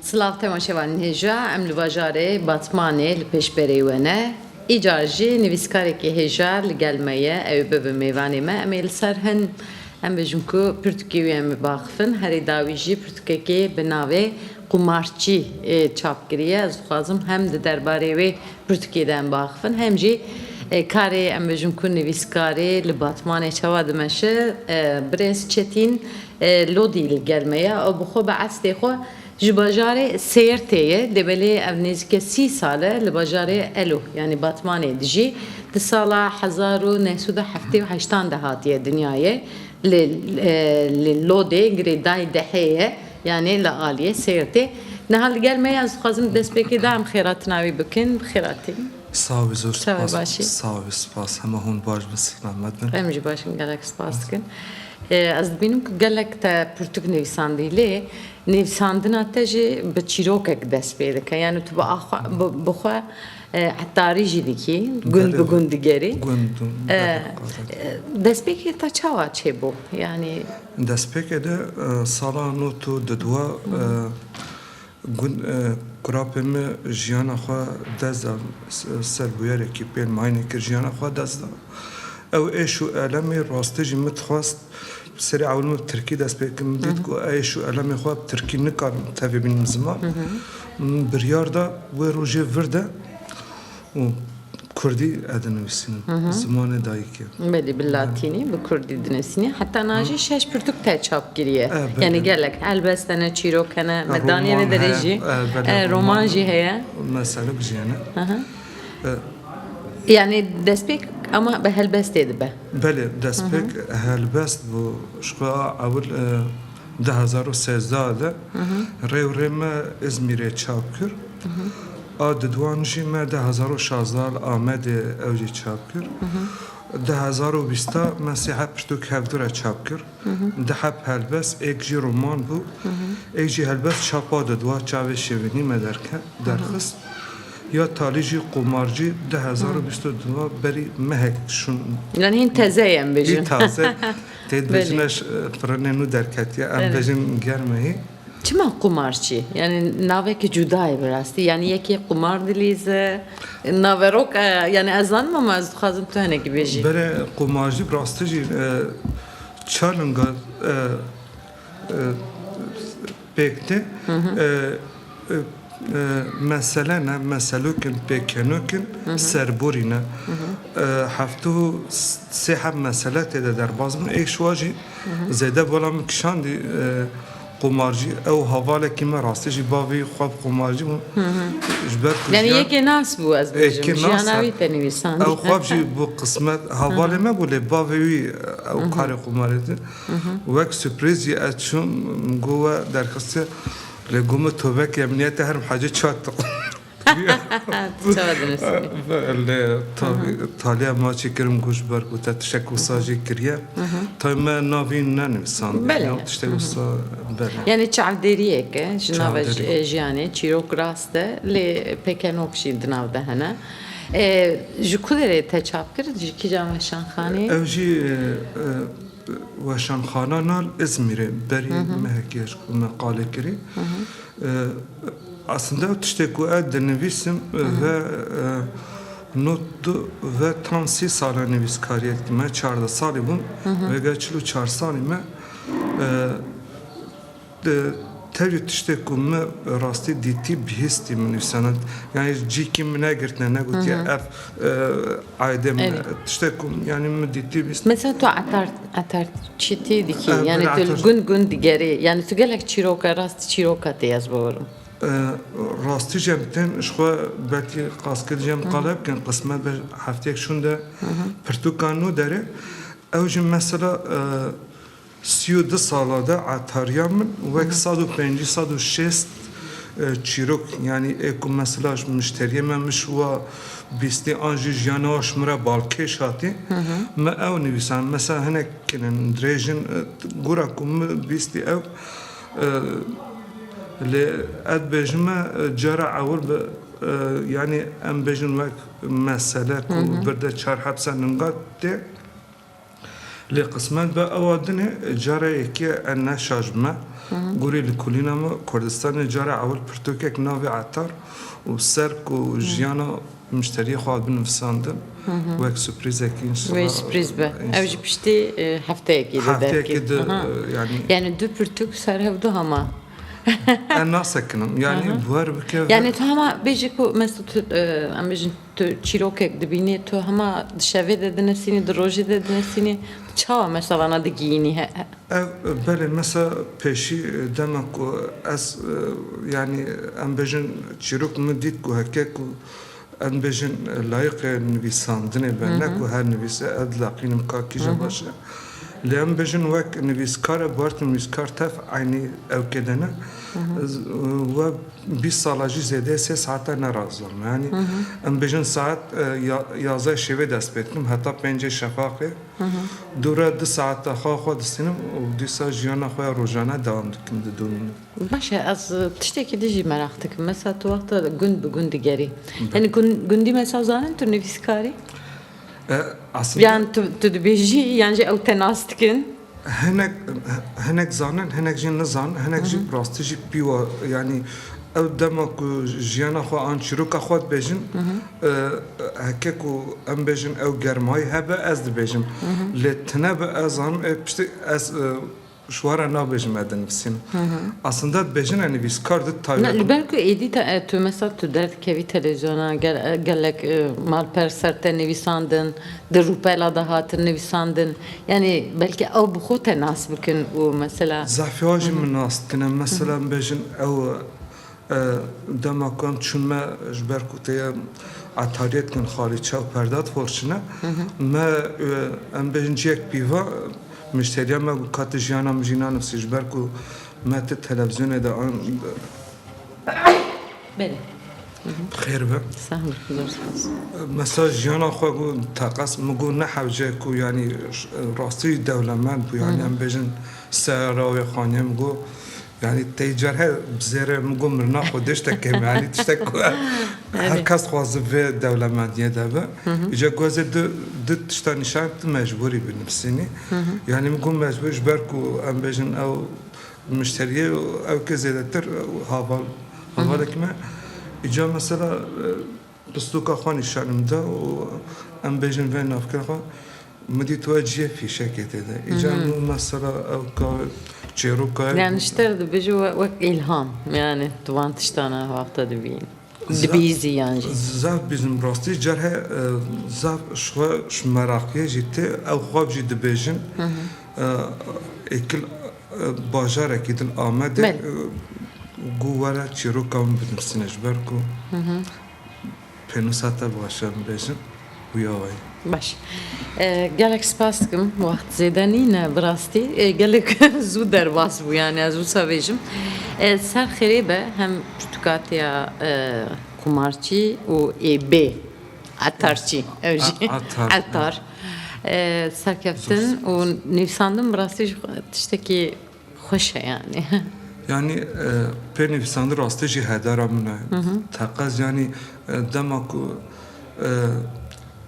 Silav temaşevanên hêja, em li bajarê Batmanê li pêşberê we ne, îcar jî nivîskarekî hêja li gel me ye, ew ê bibe mêvanê me, em ê li ser hin em bijin ku pirtûkê wî em ê biaxivin, herî dawî jî pirtûkekê bi navê Qumarçî çap kiriye, ez dixwazim hem di derbarê wê Pirtûkê de em biaxivin hem jî karê em bêjin ku nivîskarê li Batmanê çawa dimeşe. Birêz Çetîn Lodî li gel me ye. Ew bi xwe bi estê xwe ji bajarê Sêrtê ye. Dê belê ev nêzîke sî sal e li bajarê Elo yanî Batmanê dijî. Di sala hezar û neh sed û heftê û heştan de hatiye dinyayê. Li Lodê girê dayî dehê ye. Yanê li aliyê Sêrtê niha li gel me ye, ez dixwazim dest pêkê da em xêratina wî bikin, bi xêratî. Sax be zor spas. Çawa başî? Sax be spas hema hûn baş bin sixlamet bin. Em jî baş in gelek spas dikin. Ez dibînim ku gelek te pirtûk nivîsandî lê nivîsandina te jî bi çîrokek dest pê dike yanî tu bi xwe Hetarî jî dikî, gund bi gund digerî. Gund Destpêkê te çawa çêbû? Yanî Destpêkê de sala not û dudwa gund kurapê me jiyana xwe dest da ser bûyerekî pêl mayînê kir jiyana xwe dest da. Ew êş û elemê rastî jî min dixwest Bi serê ewil min bi tirkî dest pê kir. Min dît ku ez û elemê xwe bi tirkî nikarin tevî bînin ziman. Min biryar da wê rojê vir de û bi kurdî ez dinivîsînim, bi zimanê dayikê. Belê, bi latînî, bi kurdî dinivîsînî. Heta na jî şeş pirtûk te çap kiriye. Yanî gelek helbest hene, çîrok hene. Me daniye vê derê jî. Roman jî heye. Me serok jî hene. Yanî destpêk ema bi helbestê dibe. Belê destpêk helbest bû ji xwe a ewil du hezar û sêzdeh de rêwirê me Îzmîrê çap kir. A didwan jî me du hezar û şazdeh li Amedê ew jî çap kir. Du hezar û bîst de me sê heb pirtûk hevdure çap kir. Du heb helbest êk jî roman bû. Êk jî helbest çapa didwa çavê şêwînî me derxist. Ya talî jî qomarcî du hezar û bîst û du a berî mehek şûn. Yan hîn teze ye em bêjin. Hîn taze tê dibêjin eş pirinê nû derketiye em bêjin germehî. Çima qomarçî? Yanî navekî cuda ye bi rastî yanî yekê qomar dilîze naverok e yanî ez zanim ama ez dixwazim tu hinekî bêjî. Bere qomarcî bi rastî jî çar linga Pêk tê. Mesele ne, meselok in, pêkenok in, serborî ne. Heftê û sê heft mesele tê de derbas bûn. Êşiwa jî zêde bala min kişandî qomarcî. Ew havalekî me rastî jî bavê xwe bi qomarcî bû. Ji ber ku jiyan. Yani yekê nas bû ez bêjim. Yekê nas bû. Jiyana wî te nivîsand. Ew xwe jî bû qismet. Havalê me bû lê bavê wî ew karê qomarê dît. Wek surprise jî ez çûm, min got we derxistiye, lê got min to vekî emniyete herm hacê çad diqî. Lê taliya ma çî kir min got ji ber ku te tiştek wisa jî kiriye, tayê me navî nenivîsandiye ya tiştek wisa belê. Yanî çavdêriyek e ji nava jiyanê, çîrok rast e lê pekenok jî di nav de hene. Ji ku derê te çap kir, ji kîjan weşanxaneyê? Ew jî. Weşanxana Nal Îzmîrê berî mehekê ji ku me qalê kirî. Esinde ew tiştê ku ez dinivîsim ve not du ve tam sî sal e nivîskariyê dikim. Me çardeh salî bûm. Vêga çil û çar salî me Tevî tiştê ku min bi rastî dîtî bihîstî min nûsenind. Yanî cîkî min negirtine negotiye ev aydê min e. Tiştê ku yanî min dîtî bihîstî. Mesela tu etar etar çîtî dikî yanî tu li gund gund digerî yanî tu gelek çîroka rastî çîroka tê ez bibirim. Rastî jî em tên ji xwe belkî qaskil jî em qala bikin qismet be hefteyek şûnde pirtûkan nû derê ew jî mesela Sî û du sala de etariya min wek sed û pencî sed û şêst çîrok yanî ê ku mesela ji muşteriyê me min ji we bîstî an jî jiyana we ji min re balkêş hatî min ew nivîsand mesela hinek kin in dirêj in gora ku min bîstî ew lê ez dibêjim me cara ewil bi yanî em bêjin wek mesele ku birde çar hepsa ningat tê. Lê qismet be ewa din e, cara yekê e ne şaş bi me. Gorî li kulîna me Kurdistanê cara ewil pirtûkek navê Etar û ser ku jiyana mişteriyê xwe hat binivîsandin wek suprîzekî înşellah. Wê suprîz be. Ew jî piştî hefteyekî dide. Hefteyekî di yanî. Yanî du pirtûk ser hev du hema. Ez nasekinim. Yanî bar bike. Yanî tu hema bêje ku mes tu em bêjin. Tu çîrokek dibînî, tu hema di şevê de dinisînî, di rojê de dinisînî, tu çawa mesa vana digihînî? Ev belê mesa pêşî dema ku ez yanî em bêjin çîrok min dît ku heke ku em dibêjin layiqê nivîsandinê be ne ku her nivîse ez dilaqînim ka kîjan baş e. Lê em bêjin wek nivîskar e, barît nivîskar tev eynî ewkê de ne. We Bîst sala jî zêde sê saete ne razam. Yanî em bêjin saet yazdeh şêwê dest pê dikim heta pêncê şefaqê. Dûre du saete xwe xwe distînim û dîsa jiyana xwe ya rojane dewam dikim didomînim. Baş e ez tiştekî din jî meraq dikim. Mesela tu wexta gund bi gund digerî. Yanî gundî mesela zanin tu nivîskar î? Yan tu tu dibêjî yan jî ew te nas dikin? Hinek hinek zanin hinek jî nizanin hinek jî rastî jî pîwa yanî ew dema ku jiyana xwe an çîroka xwe dibêjin heke ku em bêjin ew germayî hebe ez dibêjim lê tine bi ez zanim piştî ez Şwara nabêjim me dinivîsîm. Aslında dibêjine nivîskar di taybetan de. Na, li ber ku êdî te tu mesela tu derdikevî televîzyona ger gelek malper ser te nivîsandin, di rûpela de hatin nivîsandin. Yanî belkî ew bi xwe te nas bikin û mesela. Zehfê wan jî min nas dikine. Mesela bêjin ew Dema ku em çûn me ji ber ku tê etariyê dikin xalî çaw perda diforçine me em bêjin ciyek pîva müşteriya me ku ka tu jiyana min jî nanivsî ji ber ku me tu televîzyonê de an Xêr be. Mesaj jiyana xwe ku teqez min got ne hewce ku yanî rastî dewlemend bû yanî em bêjin seyara wê xaniyê min got Yanî tey car her bi zêre min got mirina xwe dêşte kêm e yanî tiştek ku her kes dixwaze vê dewlemendiyê de be. Îca ku ez ê du du tişta nîşan tu mecbûrî bi nivîsînî. Yanî min got mecbûrî ji ber ku em bêjin ew muşteriyê û ew ke zêdetir hava havalek me. Îca mesela Pisloka xwe nîşanim da û em bêjin vê navkira xwe min dît we ciyê fîşekê tê de. Îcar min mesela ew ka çêroka ye. Yani ji te re dibêje wek îlham yani tu van tiştan a wexta dibînî. Dibîzî yan jî. Zaf bîzim rastî car heye zaf ji xwe ji meraqiyê jî tê ew xwab jî dibêjin êkil Bajarekî din Amedê got were çîroka min binivîsîne ji ber ku pênûsa te baş e em bêjin wî awe ye. Baş gelek spas dikim wext zêde nîn e bi rastî gelek zû derbas bû yanî ez wisa bêjim ser xêrê be hem tu katiya qumarçî û êbê Etarçî ew jî etar serkeftin û nivîsandin bi rastî jî tiştekî xweş e yanî. Yanî pê nivîsandin rastî jî hedara min e. Teqez yanî dema ku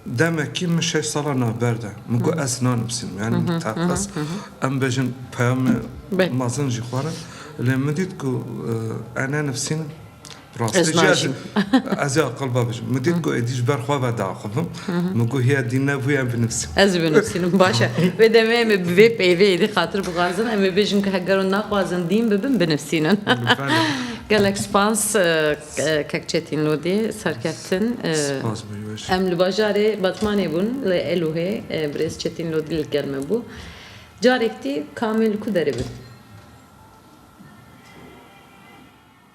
demekî min şeş sala navber de min ku ez nanivîsînim yanî min teqez em bêjin peyamê mezin jî xwarin lê min dît ku ez nenivîsînim Rastê jî ez ez ê aqil ve bijim. Min dît ku êdî ji ber xwe ve diaxivim. Min got hiya dî ne bûye em binivîsim. Ez jî binivîsînim baş e. Vê demê em ê bi vê peyvê êdî xatir bixwazin. Em ê bêjin ku heger hûn naxwazin dîn bibin binivîsînin. Gelek spas Kekçetîn Lodî serkeftin. Spas bû baş. Em li bajarê Batmanê bûn li Elûhê birêz Çetîn Lodî li gel me bû. Carek tî Kamîl li ku derê bû?